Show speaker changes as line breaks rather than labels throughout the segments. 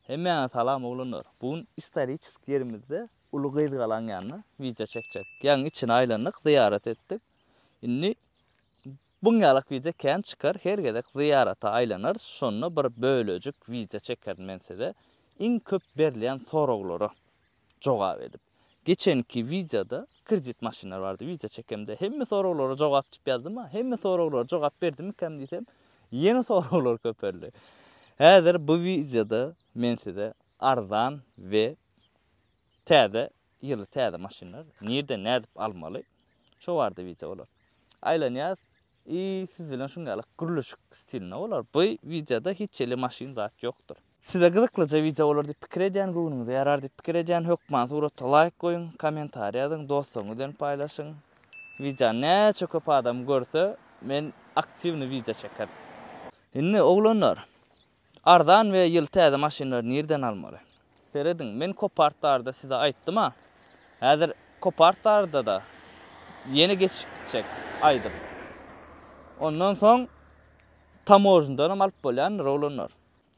Hemmäňe salam oglanlar. Bu gün istoriçeski ýerimizde uly gyzgalaň ýanyna wideo çekjek. Ýagyň içini aýlandyk, zyýarat etdik. Indi buň ýalak wideo kän çykar, her gezek zyýarata aýlanarys, şonda bir bölejik wideo çekerin men size iň köp berilýän soraglary. jogap edip. Geçenki wideoda kredit maşynlar bardy wideo çekemde hemme soraglara jogap dip ýazdym-a hemme soraglara jogap berdimikäm diýsem ýene soraglar köpeldi. Häzir bu wideoda men size arzan we täze ýyly täze maşynlar nirden nädip almaly şo barda wideo bolar. Aýlanýas i siz bilen şuňňalyk gürleşik stilinde bolar. Bu wideoda hiç hili maşyn zat ýokdur. Size gyzyklyja wideo bolar diýip pikir edýän, göwnüňize ýarar diýip pikir edýän hökman surata laýk goýuň, kommentariý ýazyň, dostlaryňyz bilen paýlaşyň. Wideony näçe köp adam görse, men aktiwny wideo çekerin. Indi oglanlar, arzan we ýyl täze maşynlary nirden almaly? Serediň, men Copart barada size aýtdym-a. Häzir Copart barada-da ýene geçip gitjek aýdym. Ondan soň Tamožnydanam alyp bolýandyr, oglanlar.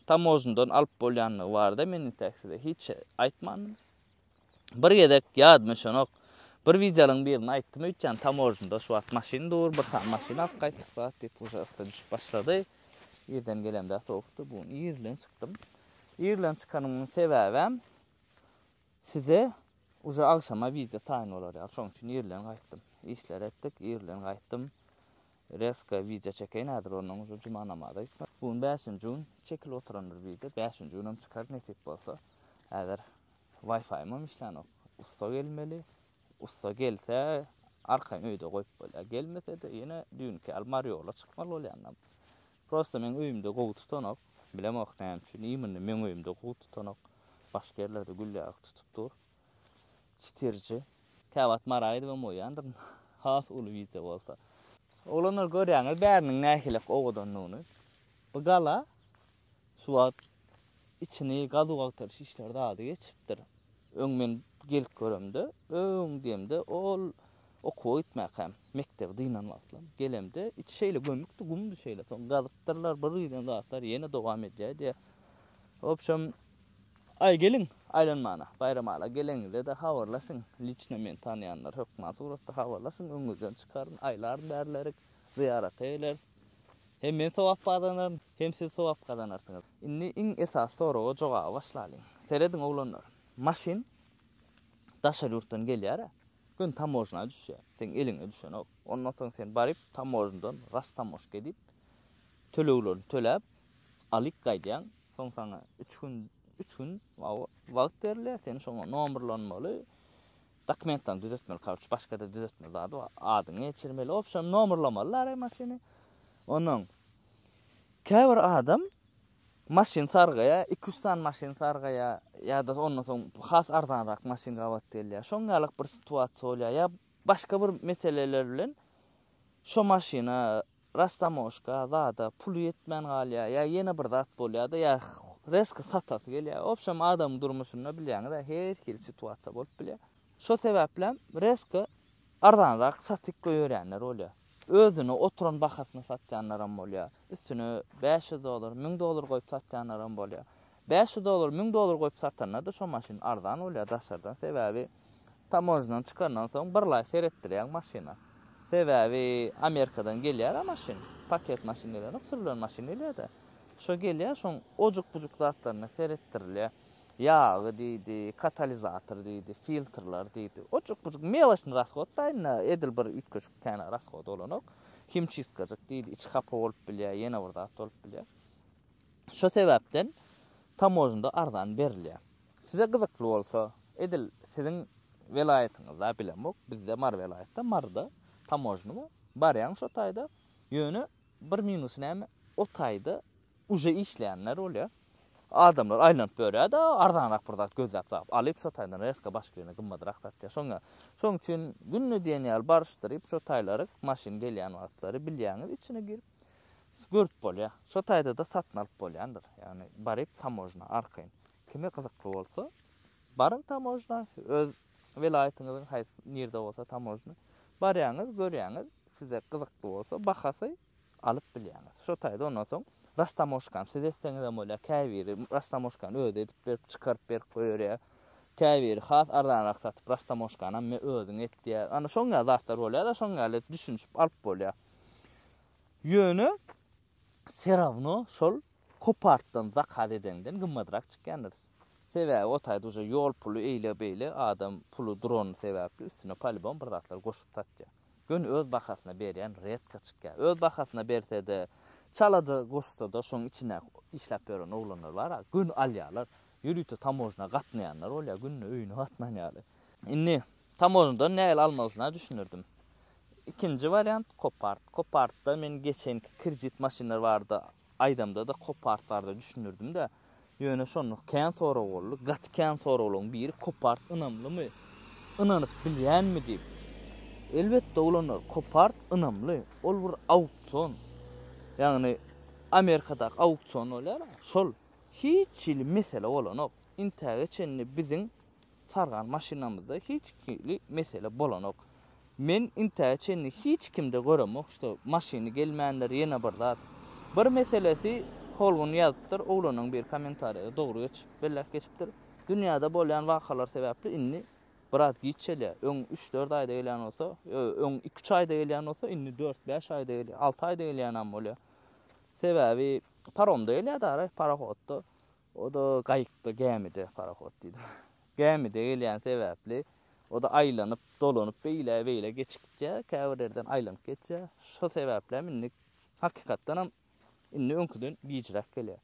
tamožnydan alyp bolýandygy barada men intäk size hiç aýtmandym. Bir gezek ýadyma şonok bir wideolyň birini aýtdym öýtýän tamožnyda şu wagt maşyn dur bir sany maşyn alyp gaýtdyk zat diýip uja ysy düşüp başlady. Irden gelemde sowukdy bu gün ir bilen çykdym. Ir bilen çykanyň sebäbem Size uje agşama wideo taýyn bolar ýaly şoň üçin irlen gaýtdym. Işleri etdik, irlen gaýtdym. Reska wideo çekeýin häzir ondan uje juma namaza gitmek. Bu gün bäşinji gün çekilip oturan bir wideo. Bäşinji günem çykar nesip bolsa. Häzir waýfaýymam işlänok. Ussa gelmeli. Ussa gelse arkaýyn öýde goýup bolýar. Gelmese-de ýene düýnki ýaly Mariola çykmaly bolýan. Prosta meň öýümde gowy tutanok. Bilemok näme üçin. Iý mundy meň öýümde gowy tutanok. Başga ýerlerde gülläki tutup dur. Çitirji. Käwagt Mara gidibem goýýandyryn. Has uly wideo bolsa. Oglanlar görýäňiz bäriniň nähili owadandygyny. Bu gala Suwat içini gazuw agtaryş işleri zady geçipdir. Öň men gelip göremde, öň diýemde ol okuwa gitmäkäm, mekdebi dynan wagtlam gelemde içi şeýle gömükdi, gumdy şeýle. Soň gazypdyrlar, bir giden zatlar ýene dowam edýär diýýär. Wobşem, aý geliň aýlanmana, Baýramala geleňizde-de habarlaşyň, liçno meni tanaýanlar hökman suratda habarlaşyň, öňüňizden çykaryn, aýlaryn bärlerik, zyýarata geleris. Hem men sogap gazanaryn, hem siz sogap gazanarsyňyz. Indi iň esasy soraga jogaba başlalyň. Serediň oglanlar, maşyn daşary ýurtdan gelýär-ä, göni tamožna düşýär, seň eliňe düşenok. Ondan soň sen baryp tamožndan rastamoşka edip, töleglerini töläp, alyp gaýdýaň. Soň saňa üç gün, üç gün wagt berilýär, sen şoňa nomerlanmaly. Dokumentlerini düzetmeli karuç başgada düzetmeli zady bar adyňy geçirmeli obşam nomerlamaly lary maşyny onuň käbir adam maşyn sargaýa iki üç sany maşyn sargaýa ýa-da ondan soň has arzanrak maşyn gabat gelýär şoň ýalyk bir situasiýa bolýar ýa başga bir meseleler bilen şo maşyna Rastamoşka zada puly ýetmän galýar, ýa ýene bir zat bolýar-da, ýa rezko satasy gelýär. Obşem adamyň durmuşynda bilýäňiz-ä, her hili situasiýa bolup bilýär. Şo sebäplem rezko arzanrak satyp goýberýänler bolýar. Özüne oturan bahasyna satýanlaram bolýar. Üstüne bäş ýüz dollar, müň dollar goýup satýanlaram bolýar. Bäş ýüz dollar, müň dollar goýup satanda-da şo maşyn arzan bolýar daşardan. Sebäbi. Tamojnadan çykandan soň birlaý seretdirýäň maşyna. Sebäbi Amerikadan gelýär-ä maşyn. Paket maşyn gelenok, sürülen maşyn gelýär-dä. Şo gelýär, şoň ojuk-bujuk zatlaryna seretdirilýär. Ýagy diýdi, katalizator diýdi, filtrler diýdi. Ojuk-bujuk meloçnyý rashoda indi edil bir üýtgeşik kän rashoda bolanok. Himçistkajyk diýdi, içi hapa bolup bilýär, ýene bir zat bolup bilýär. Şo sebäpden tamožnda arzan berilýär. Size gyzykly bolsa, edil siziň welaýatyňyzda bilemok, bizde Mary welaýatda, Maryda tamožna bar. Barýaň şo taýda. Ýöne bir minusy näme, o taýda uje işleýänler bolýar. Adamlar aýlanyp ýörýär-de, arzanrak bir zat gözläp tapyp, alyp, şo taýdan reska başga ýerine gymmadrak satýar. Şoň ýaly. Şoň üçin günde diýen ýaly baryşdyryp, şo taýlary maşyn gelýän wagtlary bilýäňiz, içine girip, görüp bolýar. Şo taýda-da satyn alyp bolýandyr. Ýagny baryp tamojna arkaýyn. Kime gyzykly bolsa, baryň tamojna, öz welaýatyňyzyň haýsy nirde bolsa tamojna, barýaňyz, görýäňiz, size gyzykly bolsa, bahasy alyp bilýäňiz. Şo taýda ondan soň rastamoşkany siz etseňizem bolýar, käbiri rastamoşkany özi edip berip, çykaryp berip goýberýär. Käbiri has arzanrak satyp, rastamoşkany hem özüň et diýýär. Ana şoňňa zatlar bolýar-da, şoňňa ýaly düşünişip alyp bolýar. Ýöne se rawno şol kopartdan zakaz edeňden gymmadrak çykýandyr. Sebäbi o taýda uje ýol puly eýle beýle adam puly durany sebäpli üstüne polibom bir zatlar goşup satýar. Ýöne öz bahasyna berýän redka çykýar. Öz bahasyna bersede çalada goşsada şoň içine işläp ýören oglanlar bar a göni alýarlar. Ýörite tamojna gatnaýanlar bolýar günde öýüne gatnan ýaly. Indi Tamožnadan nägile almalysyna düşündirdim. Ikinji wariant Kopart. Kopartda men geçenki kredit maşynlar barada aýdamda-da Kopart barada düşündirdim-de. Ýöne şonda kän sorag boldy. Gaty kän soraglaryň biri Kopart ynamlymy? Ynanyp bilýänmi diýip. Elbetde ulanarys. Kopart ynamly. Ol bir auksion. Ýagny Amerikadaky auksion bolýar-a, şol. Hiç hili mesele bolanok. Intäge çenli biziň Sargan maşynamyzda hiç hili mesele bolanok. Men intäge çenli hiç kimde göremok şo maşyny gelmändir ýene bir zat. Bir meselesi Holgun ýazypdyr oglanyň bir kommentariýada dogry geçip belläp geçipdir. Dünýäde bolýan wakalar sebäpli indi biraz giç gelýär. Öň üç dört aýda gelýän bolsa, öň iki üç aýda gelýän bolsa indi dört bäş aýda gelýär, alty aýda gelýänem bolýar. Sebäbi paromda gelýär dara, parohodda. O-da gaýykda, gämide, parahod diýdim, gämide gelýäni sebäpli, o-da aýlanyp, dolanyp, beýle-beýle geçip gitýär, käbir ýerden aýlanyp geçýär. Şo sebäplem indi, hakykatdanam, indi öňküden gijräk gelýär.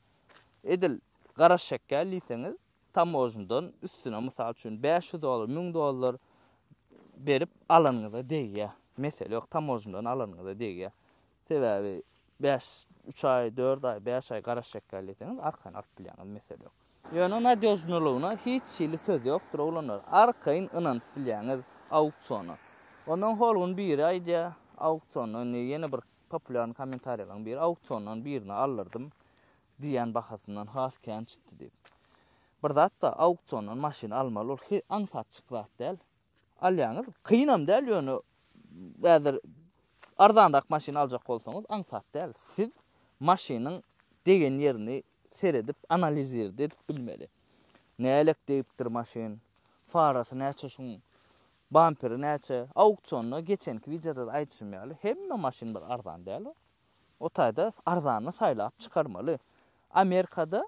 Edil gara şekel diýseňiz, tamožnydan üstüne, mysal üçin, bäş ýüz dollar, müň dollar berip alanyňyza degýär. Mesele ýok, tamožnydan alanyňyza degýär. Sebäbi bäş, üç aý, dört aý, bäş aý garaş çekýär diýseňiz, arkaýyn alyp bilýäňiz, mesele ýok. Ýöne nadýožnylygyna hiç hili söz ýokdur, oglanlar. Arkaýyn ynanyp bilýäňiz auksiona. Ondan holgun biri aýdýar, auksionda indi ýene bir populýarny kommentariýalaryň biri, auksiondan birini aldyrdym, diýýän bahasyndan has kän çykdy diýip. Bir zat bar, auksiondan maşyn almaly, ol he aňsatjyk zat däl. alýaňyz. Kynam däl, ýöne häzir arzanrak maşyn aljak bolsaňyz aňsat däl. Siz maşynyň degen ýerini seredip, analizirdi edip bilmeli. Nälik degipdir maşyn, farasy näçe şuň, bamperi näçe, auksionda geçenki wideoda aýdyşym ýaly, hemme maşyn bir arzan däl. O taýda arzanyny saýlap çykarmaly. Amerikada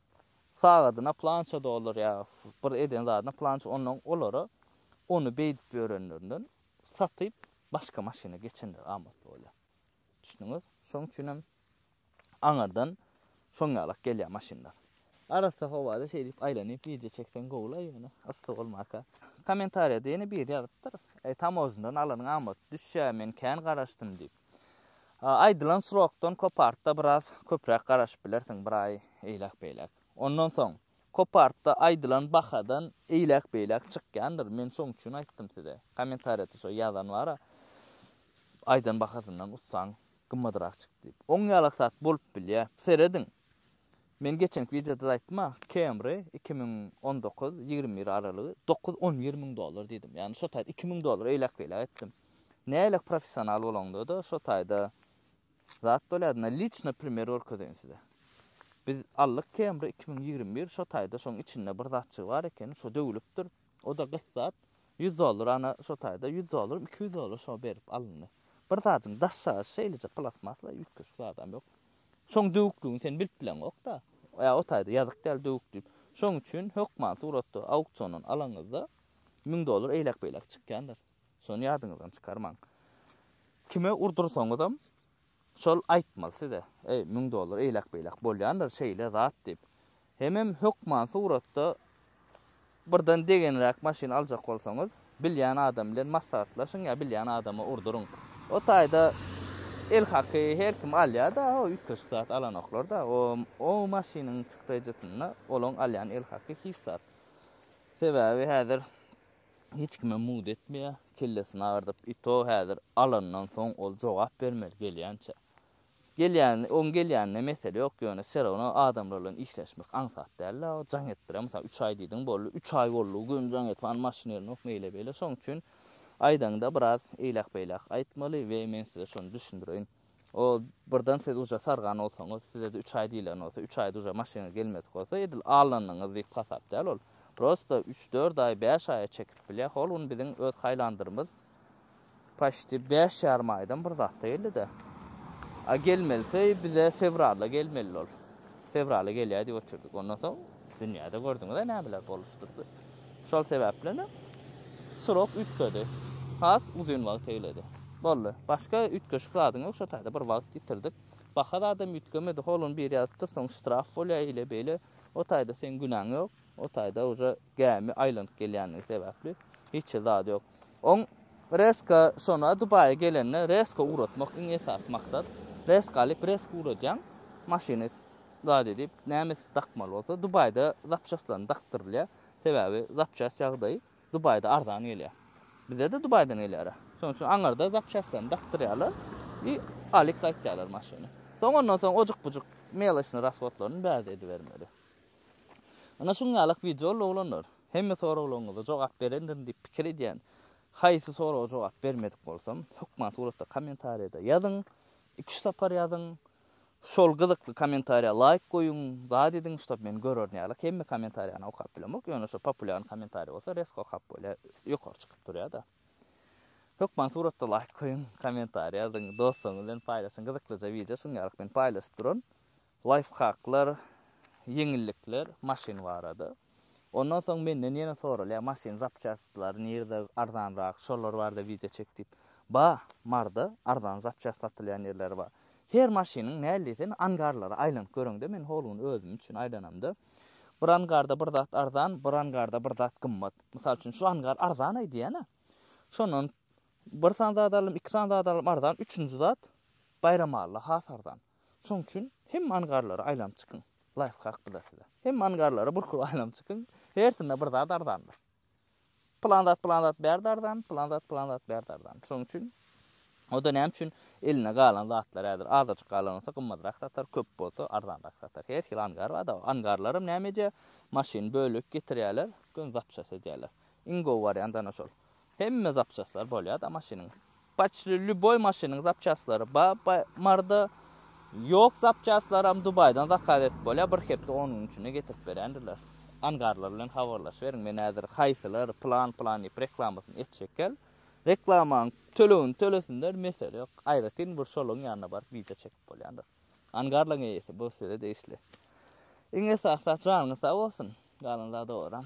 Sagadyna plança dollar ýa bir eden zadyna plança ondan olara ony beýdip ýörenlerinden satyp başga maşyna geçenler amatly bolýa. Düşdüňiz? Şoň üçin hem aňyrdan şoň ýalak gelýä maşynlar. Arassa howada şeý diýip aýlanyp wideo çekseň gowulaý ýöne yssy bolmaka. Kommentariýada ýene biri ýazypdyr, Tamozyndan alanyň amatly düşýä men kän garaşdym diýip. Aýdylan srokdan kopartda biraz köpräk garaşyp bilersiň, bir aý eýläk-beýläk. Ondan soň, kopartda aýdylan bahadan eýläk-beýläk çykýandyr. Men şoň üçin aýtdym size. Kommentariýa tusa ýazan bar-a, aýdan bahasyndan ussaň gymmadrak çykdy diýip. Oň ýalak zat bolup bilýär. Serediň, Men geçenki wideoda-da aýtdym-a, Camry iki müň on dokuz, ýigrimi bir aralygy dokuz, on bir müň dollar diýdim. Ýagny şo taýda iki müň dollar eýläk-beýläk etdim. Nähili professional bolaňda-da şo taýda zat bolýar. Ynha liçno primer görkezeýin size. Biz aldyk Camry iki müň ýigrimi bir, şo taýda şoň içinde bir zatjygy bar ekeni, şo döwülipdir. O-da gyt zat. Ýüz dollar ana şo taýda ýüz dollaram iki ýüz dollar şo berip alyndy. Bir zadyň daşaýşy şeýleje plastmasla üýtgeşik zadam ýok. Şoň döwükligini sen bilip bileňok-da. Ýa o taýda ýazyk däl döwük diýip. Şoň üçin hökman suratda auksiondan alaňyzda müň dollar eýläk-beýläk çykýandyr. Şony ýadyňyzdan çykarmaň. Kime urdursaňyzam şol aýtmaly size, eý, müň dollar eýläk-beýläk bolýandyr şeýle zat diýip. Hemem hökman suratda birden degenräk maşyn aljak bolsaňyz, bilýän adam bilen maslahatlaşyň ýa bilýän adama urduryň. O taýda elhaky her kim alýa-da, o üýtgeşik zat alanoklar-da. O o maşynyň çykdajysynda olaň alýan elhaky hiç zat. Sebäbi häzir hiç kime mugt etmeýär, kellesini agyrdyp, i to häzir alandan soň ol jogap bermeli gelýänçä. Gelýän, oň gelýänine mesele ýok, ýöne serowno adamlar bilen işleşmek aňsat dälda, o jaň etdirä. Mysal üç aý diýdiň, boldy, üç aý boldy, gün jaň edip, hany maşyn ýerindok, meýle-beýle. Şoň üçin aýdaňda biraz eýläk-beýläk aýtmaly we men size şony düşündireýin. O birden siz uja sargan bolsaňyz, size-de üç aý diýlen bolsa, üç aýda uja maşynyňyz gelmedik bolsa, edil alnanyňyz diýip hasap däl ol. Prosta üç-dört aý, bäş aýa çekip bilýär. Hol gün biziň öz haýlandyrymyz Paşdi bäş ýarym aýdan bir zatda geldi-dä. A gelmelise bize fewralda gelmeli ol. Fewrala gelýär diýip otyrdyk. Ondan soň dünýäde gördüňiz-ä nämeler bolupdyr. Şol sebäpli-ne srok üýtgedi. Has uzyn wagt eýledi. Boldy. Başga üýtgeşik zadyň ýok, şo taýda bir wagt ýitirdik. Baha zadam üýtgemedi. Hol ony bir ýazypdyr, soň ştraf bolýar, eýle-beýle. O taýda seň günäň ýok. O taýda uje gämi aýlanyp gelýändigi sebäpli hiç zat ýok. Oň reska şona Dubaýa gelende reska ugratmak iň esasy maksat. Reska alyp reska ugradýaň. Maşyny zat edip nämesi dakmaly bolsa Dubaýda zapçastlaryny dakdyrylýar. Sebäbi zapçast ýagdaýy Dubaýda arzan gelýär. Bizede Dubaýdan gelýär. Şonuň üçin aňyrda zapçastlaryny dakdyrýarlar i alyp gaýtýarlar maşyny. Soň ondan soň ojukbujuk meloçny rashodlaryny bärde edibermeli. Ana şuň ýalak wideoly oglanlar, hemme soraglaryňyza jogap berendirin diýip pikir edýän. Haýsy soraga jogap bermedik bolsam, hökman suratda kommentariýada ýazyň, iki üç sapar ýazyň. Şol gyzykly kommentariýa laýk goýuň, zat ediň, ştob men görerin ýalak hemme kommentariýany okap bilemok, ýöne şo populýarny kommentariýa bolsa resko okap bolýar, ýokary çykyp durýada. Hökman suratda laýk goýuň, kommentariýa ýazyň, dostlaryňyz bilen paýlaşyň, gyzyklyja wideo şuň ýalak men paýlaşyp duran. Laýfhaklar, ýeňillikler maşyn barada. Ondan soň menden ýene soralýar, maşyn zapçastlary nirde arzanrak, şolar barada wideo çek diýip. Ba, Marda arzan zapçast satylýan ýerler bar. Her maşynyň näl diýseň angarlara aýlanyp göreňde, men hol gün özüm üçin aýlanamda. Bir angarda bir zat arzan, bir angarda bir zat gymmat. Mysal üçin şu angar arzanaý diýýän-ä. Şondan bir san zat alalym, iki san zat alalym arzan, üçünji zat Baýramalla has arzan. Şoň üçin hemme angarlara aýlanyp çykyň. Laýfhak bu-da size. Hemme angarlara burkup aýlanyp çykyň. Hersinde bir zat arzandyr. Pylan zat, pylan zat bärde arzan, pylan zat, pylan zat bärde arzan. Şoň üçin o-da näme üçin elinde galan zatlar häzir azajyk galan bolsa gymmatrak satar, köp bolsa arzanrak satar. Her hili angar bar-da. Angarlaram näme edýär? Maşyn, bölek getirýärler, gön zapças edýärler. Iň gowy wariant ana şol. Hemme zapçastlar bolýada maşynyň. Paçli lýuboý maşynyň zapçastlary ba ba marda. Ýok zapçastlaram Dubaýdan zakaz edip bolýa, bir hepde on gün içinde getirip berýändirler. Angarlar bilen habarlaşyberiň, men häzir haýsylar plan plan diýip reklamasyny etjekkäl, reklamaň tölegini tölesinler, mesele ýok. Aýratyn bir şolaryň ýanyna baryp wideo çekip bolýandyr. Angarlaň eýesi bu size degişli. Iň esasy zat janyňyz sag bolsun. Galan zat owadan.